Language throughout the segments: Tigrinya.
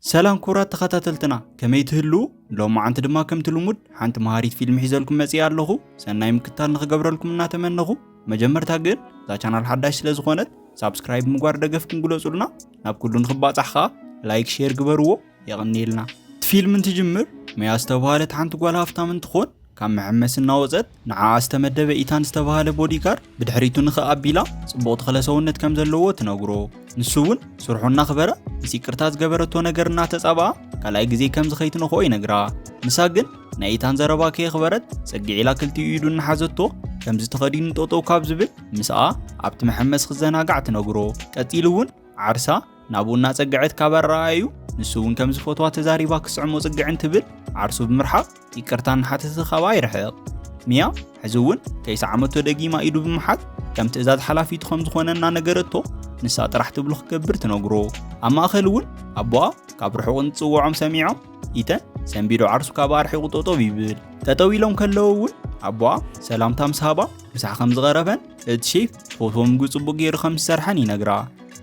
ሰላም ክቡራት ተኸታተልትና ከመይ ትህልዉ? ሎማዓንቲ ድማ ከምቲ ልሙድ ሓንቲ መሃሪት ፊልም ሒዘልኩም መጺኣ ኣለኹ። ሰናይ ምክትታል ንኽገብረልኩም እናተመነኹ መጀመርታ ግን እዛ ቻናል ሓዳሽ ስለ ዝኾነት ሳብስክራይብ ምግባር ደገፍኩም ግለጹልና። ናብ ኩሉ ንኽባጻሕ ኸኣ ላይክ ሼር ግበርዎ። የቐንየልና። እቲ ፊልም እንትጅምር መያ ዝተብሃለት ሓንቲ ጓል ሃፍታም እንትኾን ካብ መሐመሲ እናወጸት ንዓኣ ዝተመደበ ኢታን ዝተባህለ ቦዲጋርድ ብድሕሪቱ ንኽእ ኣቢላ ጽቡቕ ተኽለ ሰውነት ከም ዘለዎ ትነግሮ። ንሱ እውን ስርሑ እናኽበረ ምስ ይቅርታ ዝገበረቶ ነገር እናተጻብኣ ካልኣይ ግዜ ከምዚ ከይትነኽኦ ይነግራ። ንሳ ግን ናይ ኢታን ዘረባ ከየኽበረት ጽግዕ ኢላ ክልቲኡ ኢዱ እናሓዘቶ ከምዚ ተኸዲኑ ጠጠው ካብ ዝብል ምስኣ ኣብቲ መሐመሲ ክዘናጋዕ ትነግሮ። ቀጺሉ እውን ዓርሳ ናብኡ እናጸግዐት ካብ ኣረኣእዩ ንሱ እውን ከም ዝፈትዋ ተዛሪባ ክስዕሞ ጽግዕ እንትብል ዓርሱ ብምርሓቕ ይቅርታ እናሓተተ ካብኣ ይርሕቕ። ሚያ ሕዚ እውን ከይሰዓመቶ ደጊማ ኢዱ ብምሓዝ ከም ትእዛዝ ሓላፊቱ ከም ዝኾነ እናነገረቶ ንሳ ጥራሕ ትብሎ ክገብር ትነግሮ። ኣብ ማእኸል እውን ኣቦኣ ካብ ርሑቕ እንትጽውዖም ሰሚዖም ኢተን ሰንቢዶ ዓርሱ ካብ ኣርሒቑ ጠጠው ይብል ጠጠው ኢሎም ከለዉ እውን ኣቦኣ ሰላምታ ምስ ሃባ ምሳሕ ከም ዝቐረበን እቲ ሼፍ ፎቶ ምግቢ ጽቡቕ ገይሩ ከም ዝሰርሐን ይነግራ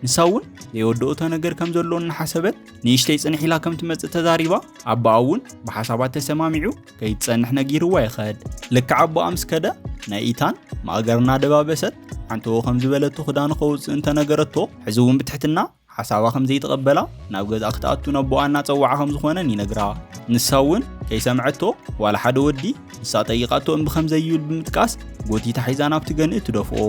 ንሳ እውን ዘይወደኦቶ ነገር ከም ዘሎ እናሓሰበት ንእሽተይ ፅንሕ ኢላ ከም ትመፅእ ተዛሪባ ኣቦኣ እውን ብሓሳባት ተሰማሚዑ ከይትፀንሕ ነጊርዋ ይኸድ ልክዕ ኣቦኣ ምስ ከደ ናይ ኢታን ማእገር እናደባበሰት ሓንተዎ ከም ዝበለቶ ክዳኑ ከውፅእ እንተነገረቶ ሕዚ እውን ብትሕትና ሓሳባ ከም ዘይተቐበላ ናብ ገዛ ክትኣቱ ነቦኣ እናፀዋዓ ከም ዝኾነን ይነግራ ንሳ እውን ከይሰምዐቶ ዋላ ሓደ ወዲ ንሳ ጠይቃቶ እምቢ ከም ዘይብል ብምጥቃስ ጎቲታ ሒዛ ናብቲ ገንኢ ትደፍኦ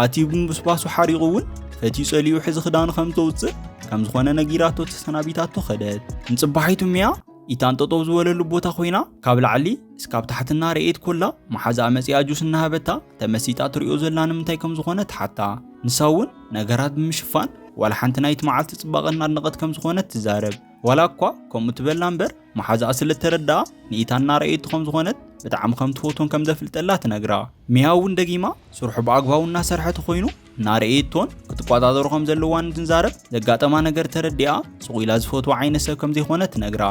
ኣቲ ብምብስባሱ ሓሪቑ እውን ፈትዩ ጸሊኡ ሕዚ ክዳኑ ከም ዘውጽእ ከም ዝኾነ ነጊራቶ ተሰናቢታቶ ኸደት ንጽባሒቱ ሚያ ኢታን ጠጠው ዝበለሉ ቦታ ኮይና ካብ ላዕሊ እስካብ ታሕትና ርኤት ኮላ መሓዛኣ መጺኣ ጁስ እናሃበታ ተመሲጣ ትሪኦ ዘላ ንምንታይ ከም ዝኾነ ተሓታ ንሳ እውን ነገራት ብምሽፋን ዋላ ሓንቲ ናይቲ መዓልቲ ጽባቐ እናድነቐት ከም ዝኾነት ትዛረብ ዋላ እኳ ከምኡ ትበላ እምበር መሓዛኣ ስለ እተረድኣ ንኢታና ረኣየቱ ከም ዝኾነት ብጣዕሚ ከም ትፈትዎን ከም ዘፍልጠላ ትነግራ። ሚያ እውን ደጊማ ስርሑ ብኣግባቡ እናሰርሐ ተኾይኑ እናረኣየቶን ክትቆጻጸሮ ከም ዘለዋን እንትንዛረብ ዘጋጠማ ነገር ተረዲኣ ስቕ ኢላ ዝፈትዋ ዓይነት ሰብ ከም ዘይኮነ ትነግራ።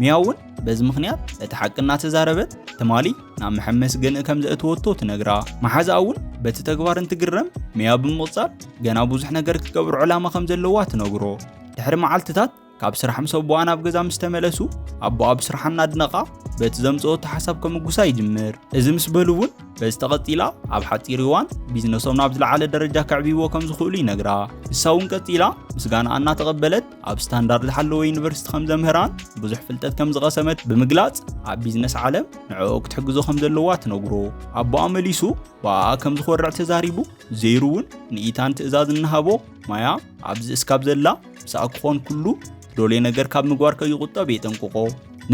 ሚያ እውን በዚ ምኽንያት እቲ ሓቂ እናተዛረበት ትማሊ ናብ መሐመሲ ገንኢ ከም ዘእተወቶ ትነግራ መሓዛኣ እውን በቲ ተግባር እንትግረም ሚያ ብምቕጻል ገና ብዙሕ ነገር ክትገብሮ ዕላማ ከም ዘለዋ ትነግሮ ድሕሪ መዓልትታት ካብ ስራሕ ምስ ኣቦኣ ናብ ገዛ ምስ ተመለሱ ኣቦኣ ብስርሓ እናድነቓ በቲ ዘምፅኦ ተሓሳብ ከምጉሳ ይጅምር እዚ ምስ በሉ እውን በዚ ተቐፂላ ኣብ ሓፂር እዋን ቢዝነሶም ናብ ዝለዓለ ደረጃ ከዕብይዎ ከም ዝኽእሉ ይነግራ ንሳ እውን ቀፂላ ምስጋና እናተቐበለት ኣብ ስታንዳርድ ዝሓለወ ዩኒቨርሲቲ ከም ዘምህራን ብዙሕ ፍልጠት ከም ዝቐሰመት ብምግላፅ ኣብ ቢዝነስ ዓለም ንዕኦ ክትሕግዞ ከም ዘለዋ ትነግሮ ኣቦኣ መሊሱ ብኣኣ ከም ዝኾርዕ ተዛሪቡ ዘይሩ እውን ንኢታን ትእዛዝ እናሃቦ ማያ ኣብዚ እስካብ ዘላ ምስኣ ክኾን ኩሉ ዶሌ ነገር ካብ ምግባር ከይቑጠብ የጠንቅቖ።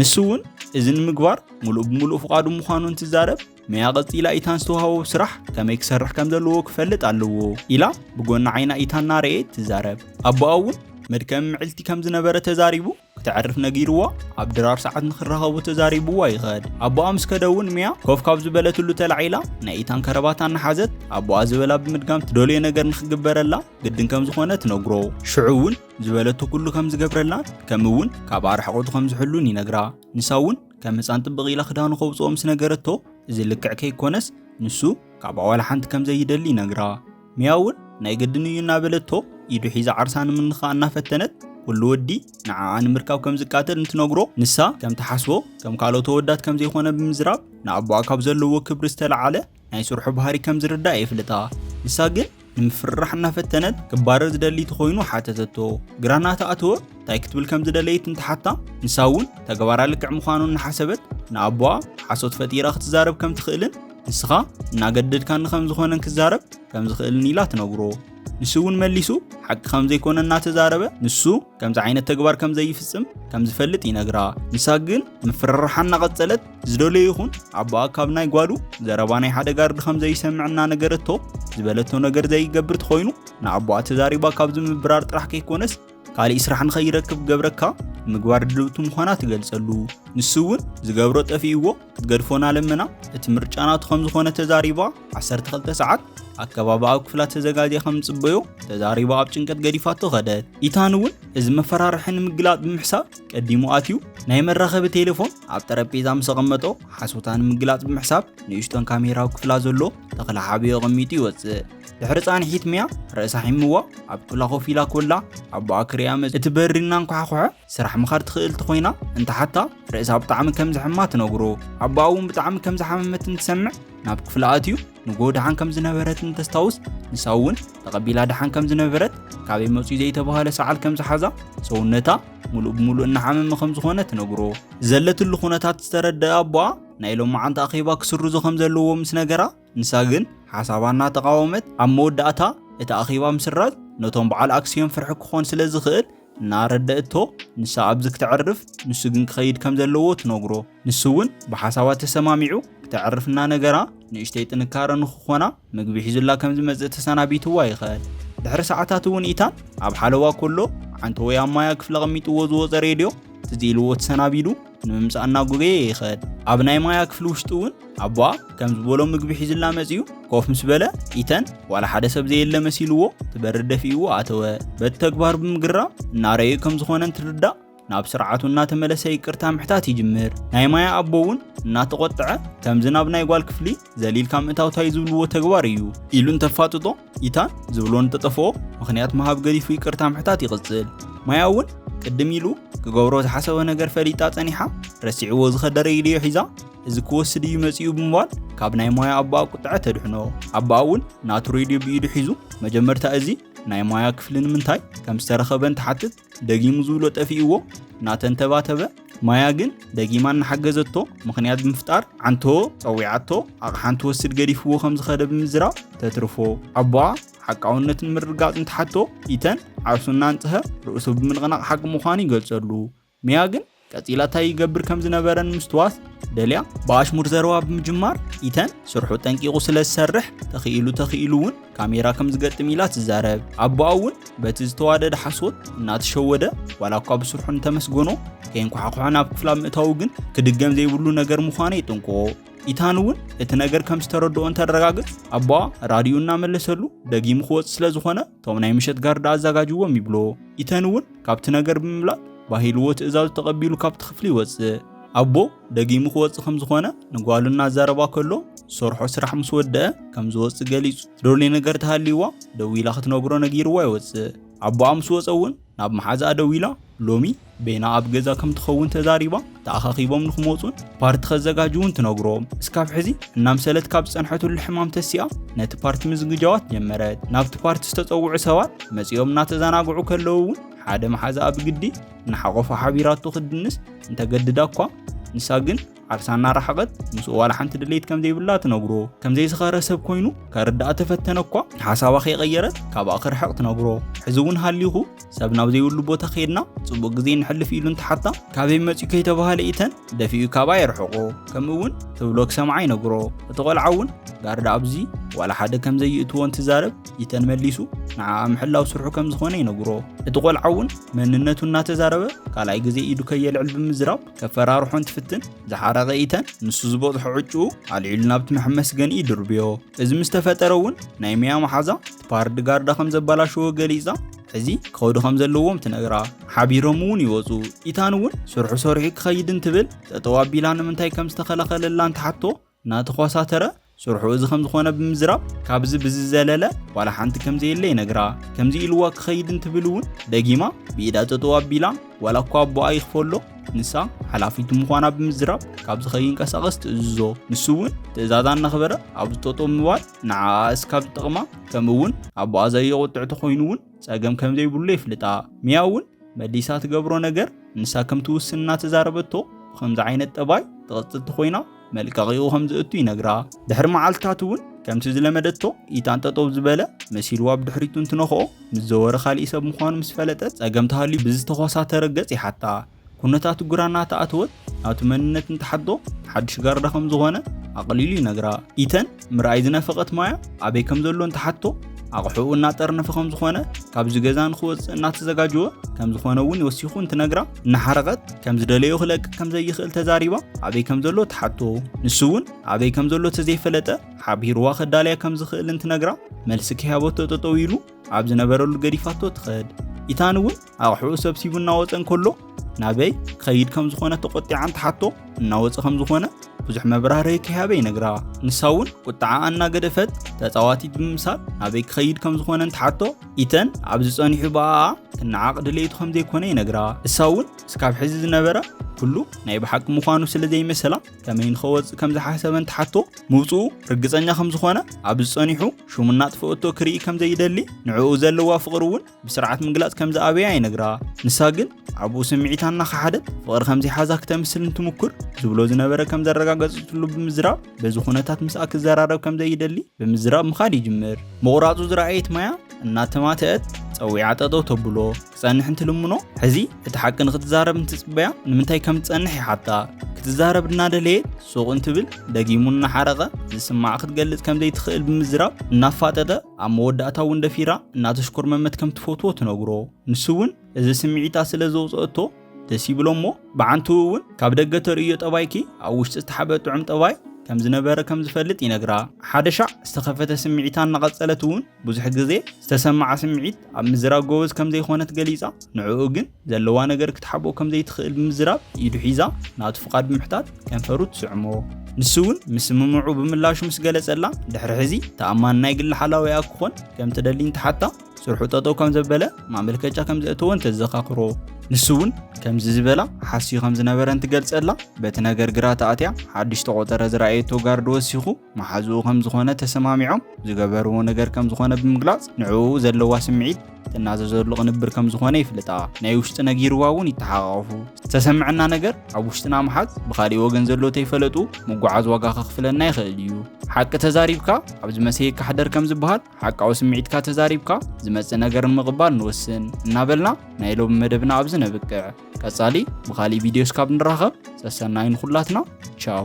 ንሱ እውን እዚ ንምግባር ሙሉእ ብሙሉእ ፍቓዱ ምዃኑ እንትዛረብ መያ ቀጺላ ኢታን ዝተዋህቦ ስራሕ ከመይ ክሰርሕ ከም ዘለዎ ክፈልጥ ኣለዎ ኢላ ብጎኒ ዓይና ኢታን እናረኣየት ትዛረብ። ኣቦኣ እውን መድከሚ ምዕልቲ ከም ዝነበረ ተዛሪቡ። ክተዕርፍ ነጊርዎ ኣብ ድራር ሰዓት ንክራኸቡ ተዛሪብዋ ይኸድ ኣቦኣ ምስ ከደውን ሚያ ኮፍ ካብ ዝበለትሉ ተላዒላ ናይ ኢታን ከረባት ኣናሓዘት ኣቦኣ ዝበላ ብምድጋም ትደልዮ ነገር ንክግበረላ ግድን ከም ዝኾነ ትነግሮ ሽዑ እውን ዝበለቶ ኩሉ ከም ዝገብረላን ከም እውን ካብ ኣርሕቆቱ ከም ዝሕሉን ይነግራ ንሳ እውን ከም ህፃን ጥብቕ ኢላ ክዳኑ ከውፅኦ ምስ ነገረቶ እዚ ልክዕ ከይኮነስ ንሱ ካብ ኣዋላ ሓንቲ ከም ዘይደሊ ይነግራ ሚያ እውን ናይ ግድን እዩ እናበለቶ ኢዱ ሒዛ ዓርሳ ንምንኻእ እናፈተነት ኩሉ ወዲ ንዓኣ ንምርካብ ከም ዝቃተል እንትነግሮ ንሳ ከም ትሓስቦ ከም ካልኦት ወዳት ከም ዘይኮነ ብምዝራብ ንኣቦኣ ካብ ዘለዎ ክብሪ ዝተለዓለ ናይ ስርሑ ባህሪ ከም ዝርዳእ የፍልጣ ንሳ ግን ንምፍርራሕ እናፈተነት ክባረር ዝደሊ ተኾይኑ ሓተተቶ ግራ እናተኣተወ እንታይ ክትብል ከም ዝደለየት እንትሓታ ንሳ እውን ተግባራ ልክዕ ምዃኑ እናሓሰበት ንኣቦኣ ሓሶት ፈጢራ ክትዛረብ ከም ትኽእልን ንስኻ እናገደድካኒ ከም ዝኾነን ክዛረብ ከም ዝኽእልን ኢላ ትነግሮ ንሱ እውን መሊሱ ሓቂ ከም ዘይኮነ እናተዛረበ ንሱ ከምዚ ዓይነት ተግባር ከም ዘይፍጽም ከም ዝፈልጥ ይነግራ ንሳ ግን ምፍርራሓ እናቐጸለት ዝደለዩ ይኹን ኣቦኣ ካብ ናይ ጓሉ ዘረባ ናይ ሓደ ጋርዲ ከም ዘይሰምዕ እናነገረቶ ዝበለቶ ነገር ዘይገብር ተኾይኑ ንኣቦኣ ተዛሪባ ካብ ዝምብራር ጥራሕ ከይኮነስ ካልእ ስራሕ ንኸይረክብ ክገብረካ ምግባር ድልውቲ ምዃና ትገልጸሉ ንሱ እውን ዝገብሮ ጠፊእዎ ክትገድፎና ለመና እቲ ምርጫ ናቱ ከም ዝኾነ ተዛሪባ 12 ሰዓት ኣከባቢ ኣብ ክፍላ ተዘጋጅያ ከም ዝጽበዮ ተዛሪባ ኣብ ጭንቀት ገዲፋቶ ኸደት ኢታን እውን እዚ መፈራርሒ ንምግላጥ ብምሕሳብ ቀዲሙ ኣትዩ ናይ መራኸቢ ቴሌፎን ኣብ ጠረጴዛ ምስ ኣቐመጦ ሓሶታ ንምግላጽ ብምሕሳብ ንእሽቶን ካሜራ ኣብ ክፍላ ዘሎ ተኽለ ሓብዮ ኣቐሚጡ ይወጽእ ድሕሪ ጻንሒት ሚያ ርእሳ ሒምዋ ኣብ ክፍላ ኮፍ ኢላ ኮላ ኣቦኣ ክሪያ መጽ እቲ በሪ እናንኳሕኩሐ ስራሕ ምኻድ ትኽእል እንተኾይና እንተሓታ ርእሳ ብጣዕሚ ከም ዝሕማ ትነግሮ ኣቦኣ እውን ብጣዕሚ ከም ዝሓመመት እንትሰምዕ ናብ ክፍላ ኣትዩ ንጎ ድሓን ከም ዝነበረት እንተስታውስ ንሳ እውን ተቐቢላ ድሓን ከም ዝነበረት ካበይ መፅኡ ዘይተባህለ ሰዓል ከም ዝሓዛ ሰውነታ ሙሉእ ብሙሉእ እናሓመመ ከም ዝኾነ ትነግሮ ዘለትሉ ኩነታት ዝተረደአ ኣቦኣ ናይ ሎም መዓንቲ ኣኼባ ክስርዙ ከም ዘለዎ ምስ ነገራ ንሳ ግን ሓሳባ እናተቓወመት ኣብ መወዳእታ እቲ ኣኼባ ምስራዝ ነቶም በዓል ኣክስዮን ፍርሒ ክኾን ስለ ዝኽእል እናረደእቶ ንሳ ኣብዚ ክተዕርፍ ንሱ ግን ክኸይድ ከም ዘለዎ ትነግሮ። ንሱ እውን ብሓሳባ ተሰማሚዑ ክተዕርፍ እናነገራ ንእሽተይ ጥንካረ ንክኾና ምግቢ ሒዙላ ከም ዝመጽእ ተሰናቢትዋ ይኸድ። ድሕሪ ሰዓታት እውን ኢታን ኣብ ሓለዋ ከሎ ዓንተወይ ኣብ ማያ ክፍሊ ኣቐሚጥዎ ዝወጸ ሬድዮ ትዝ ኢልዎ ተሰናቢዱ ንምምፃእ እናጎገየ ይኸድ ኣብ ናይ ማያ ክፍሊ ውሽጢ እውን ኣቦኣ ከም ዝበሎ ምግቢ ሒዝላ መፅዩ ኮፍ ምስ በለ ኢተን ዋላ ሓደ ሰብ ዘየለ መሲልዎ ትበሪ ደፊእዎ ኣተወ በቲ ተግባር ብምግራም እናረዩ ከም ዝኾነ እንትርዳእ ናብ ስርዓቱ እናተመለሰ ይቅርታ ምሕታት ይጅምር ናይ ማያ ኣቦ እውን እናተቆጥዐ ከምዚ ናብ ናይ ጓል ክፍሊ ዘሊልካ ምእታውታይ ዝብልዎ ተግባር እዩ ኢሉ እንተፋጥጦ ኢታን ዝብሎ እንተጠፍኦ ምኽንያት ምሃብ ገዲፉ ይቅርታ ምሕታት ይቕጽል ማያ እውን ቅድም ኢሉ ክገብሮ ዝሓሰበ ነገር ፈሊጣ ጸኒሓ ረሲዕዎ ዝኸደረ ኢድዮ ሒዛ እዚ ክወስድ እዩ መጺኡ ብምባል ካብ ናይ ማያ ኣቦኣ ቁጥዐ ተድሕኖ ኣቦኣ እውን ናቱ ሬድዮ ብኢዱ ሒዙ መጀመርታ እዚ ናይ ማያ ክፍሊ ንምንታይ ከም ዝተረኸበን ትሓትት ደጊሙ ዝብሎ ጠፊእዎ እናተንተባተበ ማያ ግን ደጊማ እናሓገዘቶ ምኽንያት ብምፍጣር ዓንቶ ጸዊዓቶ ኣቕሓን ትወስድ ገዲፍዎ ከም ዝኸደ ብምዝራብ ተትርፎ ኣቦኣ ሓቃውነትን ምርጋፅን ትሓቶ ኢተን ዓርሱ እናንፅሀ ርእሱ ብምንቕናቕ ሓቂ ምዃኑ ይገልጸሉ። ሚያ ግን ቀጺላ እንታይ ይገብር ከም ዝነበረን ምስትዋት ደልያ ብኣሽሙር ዘረባ ብምጅማር ኢተን ስርሑ ጠንቂቑ ስለ ዝሰርሕ ተኽኢሉ ተኽኢሉ እውን ካሜራ ከም ዝገጥም ኢላ ትዛረብ። ኣቦኣ እውን በቲ ዝተዋደደ ሓሶት እናተሸወደ ዋላ እኳ ብስርሑ እንተመስገኖ ከየንኳሕኩሐ ናብ ክፍላ ምእታዉ ግን ክድገም ዘይብሉ ነገር ምዃኑ የጥንቅቆ። ኢታን እውን እቲ ነገር ከም ዝተረድኦ እንተረጋግጽ ኣቦኣ ራድዩ እናመለሰሉ ደጊሙ ክወጽእ ስለ ዝኾነ እቶም ናይ ምሸት ጋርዳ ኣዘጋጅዎም ይብሎ። ኢተን እውን ካብቲ ነገር ብምብላጥ ባሂልዎ ትእዛዙ ተቐቢሉ ካብቲ ክፍሊ ይወጽእ። ኣቦ ደጊሙ ክወጽእ ከም ዝኾነ ንጓሉ እናዛረባ ከሎ ዝሰርሖ ስራሕ ምስ ወደአ ከም ዝወጽእ ገሊጹ ትደልዮ ነገር ተሃልይዋ ደዊላ ክትነግሮ ነጊርዋ ይወጽእ። ኣቦኣ ምስ ወጸ እውን ናብ መሓዝኣ ደዊላ ሎሚ በይና ኣብ ገዛ ከም ትኸውን ተዛሪባ ተኣኻኺቦም ንክመፁን ፓርቲ ከዘጋጅውን ትነግሮም። እስካብ ሕዚ እናምሰለት ካብ ዝፀንሐትሉ ሕማም ተሲኣ ነቲ ፓርቲ ምዝግጃዋት ጀመረት። ናብቲ ፓርቲ ዝተፀውዑ ሰባት መፂኦም እናተዘናግዑ ከለዉ እውን ሓደ መሓዝኣ ብግዲ እናሓቖፋ ሓቢራቶ ክትድንስ እንተገድዳ እኳ ንሳ ግን ዓርሳ እናረሓቐት ምስኡ ዋላ ሓንቲ ድሌት ከም ዘይብላ ትነግሮ ከም ዘይዝኸረ ሰብ ኮይኑ ከርድኣ ተፈተነ እኳ ሓሳባ ከይቐየረት ካብኣ ክርሕቕ ትነግሮ ሕዚ እውን ሃሊኹ ሰብ ናብ ዘይብሉ ቦታ ከይድና ጽቡቕ ግዜ ንሕልፍ ኢሉ እንተሓታ ካበይ መጽኡ ከይተባሃለ ኢተን ደፊኡ ካብኣ የርሕቆ ከምኡ እውን ትብሎ ክሰምዓ ይነግሮ እቲ ቆልዓ እውን ጋርዳ ኣብዚ ዋላ ሓደ ከም ዘይእትዎ እንትዛረብ ኢተን መሊሱ ንዓኣ ምሕላው ስርሑ ከም ዝኾነ ይነግሮ እቲ ቆልዓ እውን መንነቱ እናተዛረበ ካልኣይ ግዜ ኢዱ ከየልዕል ብምዝራብ ከፈራርሖን ትፍትን ዝሓረቐ ኢተን ንሱ ዝበፅሖ ዕጭኡ ኣልዒሉ ናብቲ መሐመስገኒ ይድርብዮ እዚ ምስ ተፈጠረ እውን ናይ ሚያ መሓዛ ፓርድ ጋርዳ ከም ዘበላሸዎ ገሊፃ እዚ ክኸዱ ከም ዘለዎም ትነግራ ሓቢሮም እውን ይወፁ ኢታን እውን ስርሑ ሰሪሑ ክኸይድ እንትብል ጠጠው ኣቢላ ንምንታይ ከም ዝተኸለኸለላን ትሓቶ እናተኾሳተረ ስርሑ እዚ ከምዝኾነ ብምዝራብ ካብዚ ብዝዘለለ ዋላ ሓንቲ ከምዘየለ ይነግራ። ከምዚ ኢልዋ ክኸይድ እንትብል እውን ደጊማ ብኢዳ ጠጠው ኣቢላ ዋላ እኳ ኣቦኣ ይኽፈሎ ንሳ ሓላፊቱ ምዃና ብምዝራብ ካብዚ ከይንቀሳቐስ ትእዝዞ። ንሱ እውን ትእዛዛ እናኽበረ ኣብ ዝጠጦ ምባል ንዓኣ እስካብ ዝጠቕማ ከምኡ እውን ኣቦኣ ዘየቑጥዕ ተኾይኑ እውን ጸገም ከም ዘይብሉ የፍልጣ። ሚያ እውን መሊሳ ትገብሮ ነገር ንሳ ከም ትውስን እናተዛረበቶ ብኸምዚ ዓይነት ጠባይ ትቕጽል ተኾይና መልቀቂኡ ከም ዝእቱ ይነግራ። ድሕሪ መዓልትታት እውን ከምቲ ዝለመደቶ ኢታን ጠጠው ዝበለ መሲልዋ ብድሕሪቱ እንትነኽኦ ምስ ዘወረ ካሊእ ሰብ ምዃኑ ምስ ፈለጠት ጸገም ተሃልዩ ብዝተኾሳተረ ገጽ ይሓታ። ኩነታቱ ግራ እናተኣተወት ናቱ መንነት እንትሓቶ ሓዱሽ ጋርዳ ከም ዝኾነ ኣቕሊሉ ይነግራ። ኢተን ምርኣይ ዝነፈቐት ማያ ኣበይ ከም ዘሎ እንትሓቶ ኣቕሑኡ እናጠርነፈ ከም ዝኾነ ካብዚ ገዛ ንክወፅእ እናተዘጋጀወ ከም ዝኾነ እውን ወሲኹ እንትነግራ እናሓረቐት ከም ዝደለዮ ክለቅቅ ከም ዘይኽእል ተዛሪባ ኣበይ ከም ዘሎ ትሓቶ ንሱ እውን ኣበይ ከም ዘሎ ተዘይፈለጠ ሓቢርዋ ከዳልያ ከም ዝኽእል እንትነግራ መልሲ ከያበቶ ጠጠው ኢሉ ኣብ ዝነበረሉ ገዲፋቶ ትኸድ ኢታን እውን ኣቕሑኡ ሰብሲቡ እናወፀ እንከሎ ናበይ ክኸይድ ከም ዝኾነ ተቖጢዓን ትሓቶ እናወፀ ከም ዝኾነ ብዙሕ መብራህርሂ ከይሃበ ይነግራ ንሳ እውን ቁጥዓኣ እናገደፈት ተፃዋቲት ብምምሳል ናበይ ክኸይድ ከም ዝኾነ እንትሓቶ ኢተን ኣብዚ ፀኒሑ ብኣኣ ክነዓቕ ድሌቱ ከም ዘይኮነ ይነግራ እሳ እውን እስካብ ሕዚ ዝነበረ ኩሉ ናይ ብሓቂ ምዃኑ ስለ ዘይመሰላ ከመይ ንኸወፅእ ከም ዝሓሰበ እንትሓቶ ምውፅኡ ርግፀኛ ከም ዝኾነ ኣብዚ ፀኒሑ ሽሙ እናጥፈአቶ ክርኢ ከም ዘይደሊ ንዕኡ ዘለዋ ፍቕሪ እውን ብስርዓት ምግላጽ ከም ዝኣበያ ይነግራ ንሳ ግን ኣብኡ ስምዒታ እናኸሓደት ፍቕሪ ከም ዘይሓዛ ክተምስል እንትምኩር ዝብሎ ዝነበረ ከም ዘረጋገጽትሉ ብምዝራብ በዚ ኩነታት ምስኣ ክዘራረብ ከም ዘይደሊ ብምዝራብ ምኻድ ይጅምር ምቑራጹ ዝረኣየት ማያ እናተማትአት ጸዊዓ ጠጠው ተብሎ ክጸንሕ እንትልምኖ ሕዚ እቲ ሓቂ ንክትዛረብ እንትጽበያ ንምንታይ ከም ትጸንሕ ይሓታ ክትዛረብ እናደለየት ሱቕ እንትብል ደጊሙ እናሓረቐ ዝስማዕ ክትገልጽ ከም ዘይትኽእል ብምዝራብ እናፋጠጠ ኣብ መወዳእታ እውን ደፊራ እናተሽኮርመመት ከም ትፈትዎ ትነግሮ። ንሱ እውን እዚ ስምዒታ ስለ ዘውፅኦቶ ደስ ይብሎ እሞ ብዓንትኡ እውን ካብ ደገ ተርእዮ ጠባይኪ ኣብ ውሽጢ ዝተሓበ ጥዑም ጠባይ ከም ዝነበረ ከም ዝፈልጥ ይነግራ። ሓደ ሻዕ ዝተኸፈተ ስምዒታ እናቐፀለት እውን ብዙሕ ግዜ ዝተሰመዓ ስምዒት ኣብ ምዝራግ ጎበዝ ከም ዘይኮነት ገሊፃ ንዕኡ ግን ዘለዋ ነገር ክትሓብኦ ከም ዘይትኽእል ብምዝራብ ኢዱ ሒዛ ናቱ ፍቓድ ብምሕታት ከንፈሩ ትስዕሞ። ንሱ እውን ምስምምዑ ብምላሹ ምስ ገለጸላ ድሕሪ ሕዚ ተኣማኒ ናይ ግሊ ሓላዊኣ ክኾን ከም ትደሊ እንትሓታ ስርሑ ጠጠው ከም ዘበለ ማመልከቻ ከም ዘእተወን ተዘኻኽሮ። ንሱ እውን ከምዚ ዝበላ ሓስዩ ከም ዝነበረን ትገልጸላ። በቲ ነገር ግራ ተኣትያ ሓድሽ ተቖጸረ ዝረኣየቶ ጋርድ ወሲኹ መሓዝኡ ከም ዝኾነ ተሰማሚዖም ዝገበርዎ ነገር ከም ዝኾነ ብምግላጽ ንዕኡ ዘለዋ ስምዒት ትናዘዘሉ ቅንብር ከም ዝኾነ ይፍልጣ ናይ ውሽጢ ነጊርዋ እውን ይተሓቃቐፉ ዝተሰምዐና ነገር ኣብ ውሽጥና ምሓዝ ብካሊእ ወገን ዘሎ ተይፈለጡ ምጓዓዝ ዋጋ ከኽፍለና ይኽእል እዩ ሓቂ ተዛሪብካ ኣብ ዝመሰየካ ሕደር ከም ዝበሃል ሓቃዊ ስምዒትካ ተዛሪብካ ዝመፅእ ነገር ንምቕባል ንወስን እናበልና ናይ ሎሚ መደብና ኣብዚ ነብቅዕ ቀጻሊ ብካሊእ ቪድዮ እስካብ ንራኸብ ሰሰናይ ንኹላትና ቻው